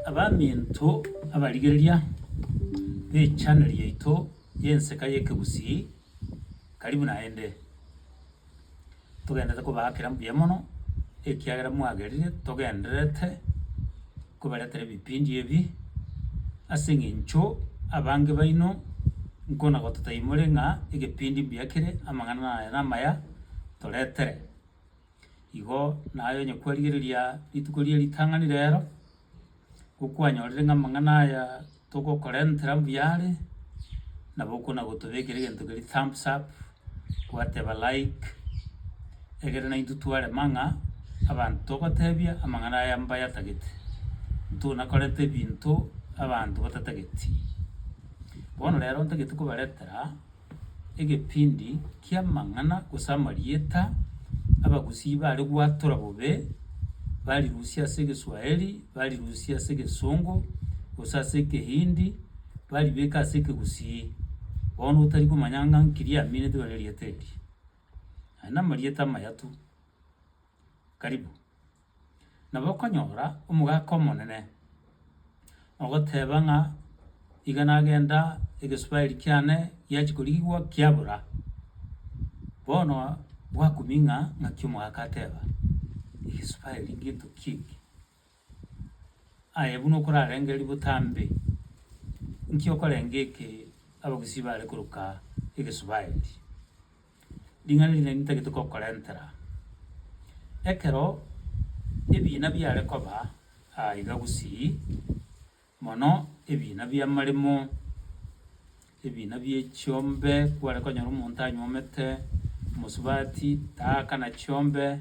Abaminto abarigereria b'echaneli yaito y'Enseka y'Ekegusii, karibu naende. Togenderete kobaakera mbuya mono ekiagera mwagerire togendererete kobaretera ebipindi ebi ase eng'encho abange baino nkonagoto taimore ng'a egepindi mbuya kere amang'ana aya namaya toretere. Igo naye onye kwarigereria rituko ria ritang'ani rero, gokwanyorire ng'a amang'ana aya togokorentera mbuya are, nabo okona gotobekera egento keria thumbs up, gwateba like, egere naintwe twarema ng'a abanto togotebia amang'ana aya mbayatagete, ntona korenta ebinto abanto batatageti. Bono rero ntagete kobaretera. egebindi ki'amang'ana gose amarieta Abagusii baare gwatora bobe, barirusia ase Egeswahili, barirusia ase Egesongo, gose ase Ekehindi, baribeka ase Ekegusii. Bono otari komanya ng'a nki riaminetwe nerieta eria. Aye namarieta amaya tu. karibu, nabo okonyora omogaka omonene ogoteba ng'a iga nagenda egesubari kiane giachia korigigwa kiabora. Bono bwakumia ng'a ng'aki omogaka ateba, egesubari ginto ki eke. Aye buna okorarenge ributa mbe, nki okorenge eke abagusii bare koroka Egesubaeli? Ring'ana eri nari ntagete kokorentera. Ekero ebiina biare koba aa iga gusii. Mono ebiina bi'amaremo, ebiina bie chiombe, kware konyora omonto anyuomete omosubati, taakana chiombe,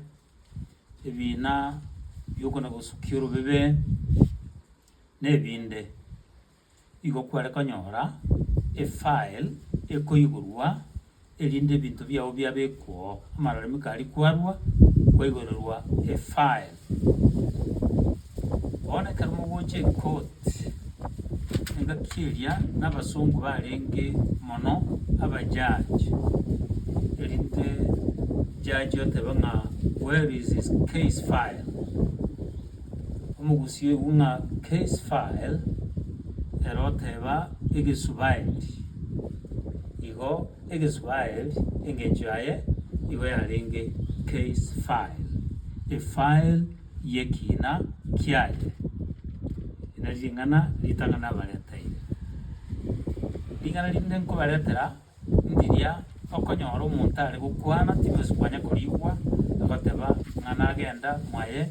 ebiina bi'okona gosukia orobebe, na ebinde. Igo kware konyora efile ekoigorwa erinde ebinto biao biabe kwoo, amaroremi kari kwarua kwaigorerwa efile. Bono ekero mogocha ekoti, engaki eria nabasongo barenge mono abajaji, erinde jaji otebe ng'a where is his case file? omogusii oigwe ng'a Case File, ere oteeba Egesubaeli. Igo Egesubaeli engencho yaye igo yarenge Case File, efile y'ekiina kiaye. Eri nari ring'ana ritang'ani nabareteire. Ring'ana rinde nkobaretera. Ndiria okonyora omonto are gokwana tinosi kwanya koriigwa, agoteba ng'a nagenda mwaye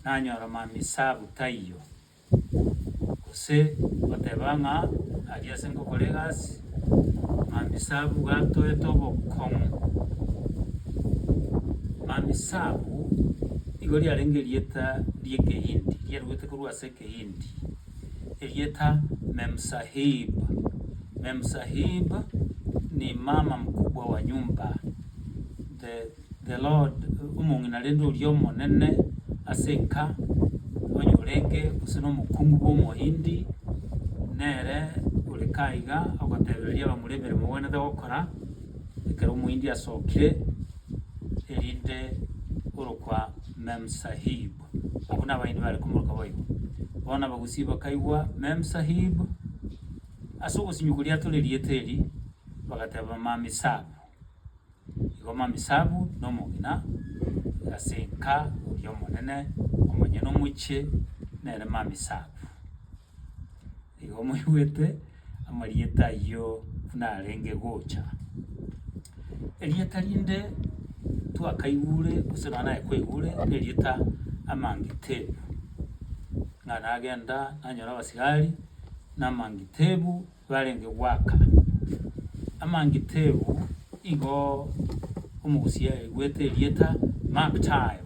nanyora mamisabu taiyo, gose goteba ng'a aria ase ngokora egasi mamisabu iga atoete obokong'u. Mamisabu igo riarenge erieta ri'ekehindi, riaruete korwa ase ekehindi. erieta Memsahib. Memsahib ni mama mkubwa wa nyumba. The, the Lord, omong'ina rende oria omonene ase enka, onye orenge gose nomokungu bw'omohindi, nere ore kaiga ogotebereria abamura emeremo ogwenerete gokora, ekero omohindi asokire, erinde orokwa Memsahib. Abwo nabaini bare komoka boigo. Bono Abagusii bakaigwa Memsahib ase ogosimia koria tore rieta eri, bagateba Mamisabu. Igo Mamisabu nomogina ase enka oria omonene, omonyene omochie nere Mamisabu. Igo mwaigwete amarieta ayio buna arenge gocha. Erieta rinde twakaigure gose nonya naye kwaigure nerieta Amangitebu, ng'a nagenda nanyora abasigari na Amangitebu barenge goaka. Amangitebu igo omogusia aigwete erieta Mark time.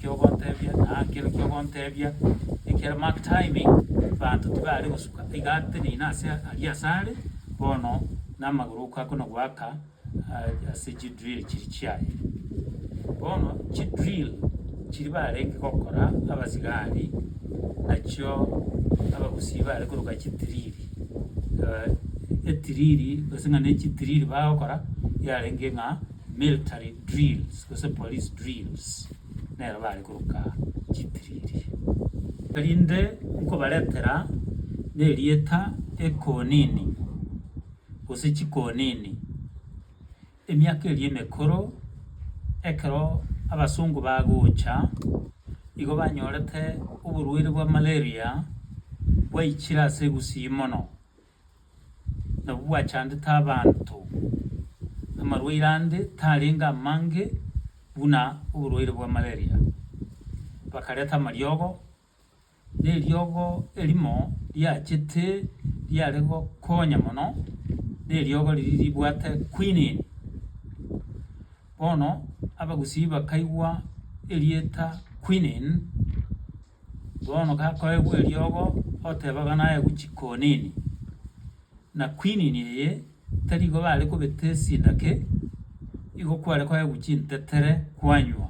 Kiogontebia na kero kiogontebia ekero mark timing banto tibare gosuka iga ateneine ase aria ase are bono namagoro oko akona goaka ase chi drill chiri chiaye bono chi drill chiri barenge gokora abasigari nachio abagusii bare koroka chi drill etiriri gose ng'a ne chi drill bagokora yarenge ng'a military drills gose police drills. nero bare koroka chitiriri. Erinde nkobaretera nerieta ekonini, gose chikonini, emiaka eria emekoro, ekero abasongo bagocha, igo banyorete oborwaire bwa malaria bwaichire ase egusii mono, nabwo bwachandete abanto. Amarwaire ande tarenge amange buna oborwaire bwa malaria. Bakareta amariogo, na eriogo erimo riachete riare gokonya mono neriogo riria ribwate quinine. Bono Abagusii bakaigwa erieta quinine Bono gakoegwa eriogo oteba bana aye guchi konini, na kwinini eye tari igo bare kobeta esindake, igo kware koegwa guchi ntetere kwanywa.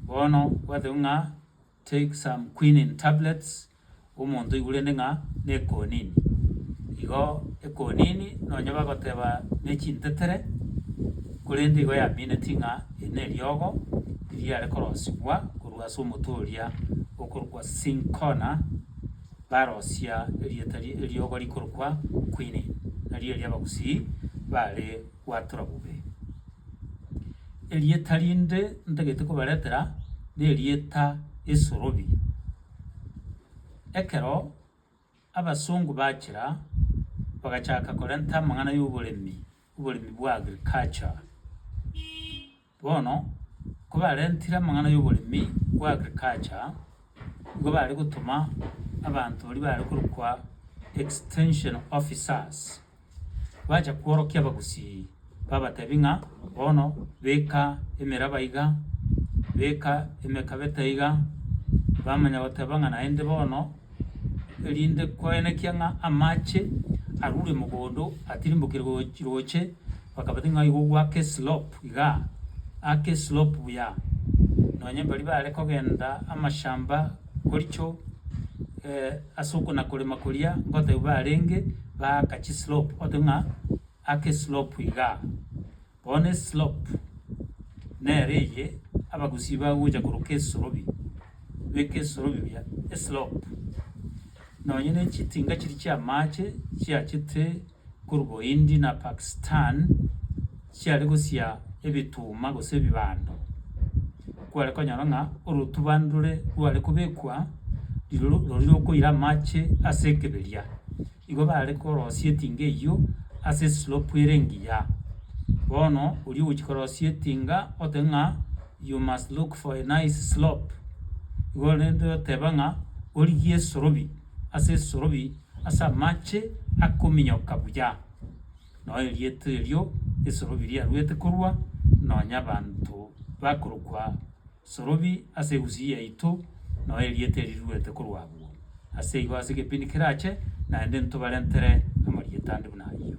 Bono gwateba ng'a take some quinine tablets omonto oigwe rende ng'a ne konini. Igo ekonini nonye bagoteba ne chintetere korende igo yaminetie ng'a. Eri neriogo ririare korosigwa korwa ase omotwe oria okorokwa Cinchona, barosia erieta rie eriogo rikorokwa Quinine, nario erio Abagusii baare gwatora bobe. Erieta rinde ntagete kobaretera nerieta Esorobi. Ekero. Abasongo bachira bagachaka korenta amang'ana y'oboremi, oboremi bwa agriculture. Bono kobarentire amang'ana y'oboremi bwa agriculture, nigo bare gotoma abanto baria bare korokwa extension officers. Bacha kworokia abagusii, babatebi ng'a, Bono beka emeraba iga, beka emekabete iga, bamanya goteba ng'a naende bono, erinde koenekia ng'a amache arure mogondo atirimbokire goch- roche, bakabati ng'a igo gwake eslope iga, ake eslope buya, nonye baria bare kogenda amashamba. Koricho ase okona-korema koria ngotebi barenge baaka chislope, otebi ng'a aka eslope igaa. Bono eslope nere eye Abagusii bagocha koroka esorobi, beka esorobi buya eslope. Nonye ne chitinga chiria chi'amache chiachete. korwa Bohindi na Pakistan chiare gosia ebituma gose ebibando, kware konyora ng'a orotuba ndore rware kobekwa rirorio roria rokoira amache ase ekeberia. Igo bare korosia etinga eyio ase eslope ere engiya. Bono oria ogochia korosia etinga ote ng'a you must look for a nice slope igo rende oteba ng'a origie esorobi. ase esorobi ase amache akominyoka buya, nao erieto erio esorobi riaruete korwa, nonya abanto bakorokwa sorobi ase egusii yaito, nao erieto eri riruete korwa abwo. Ase igo ase ekepindi kerache, naende ntobarentere amarieta ande buna ayio.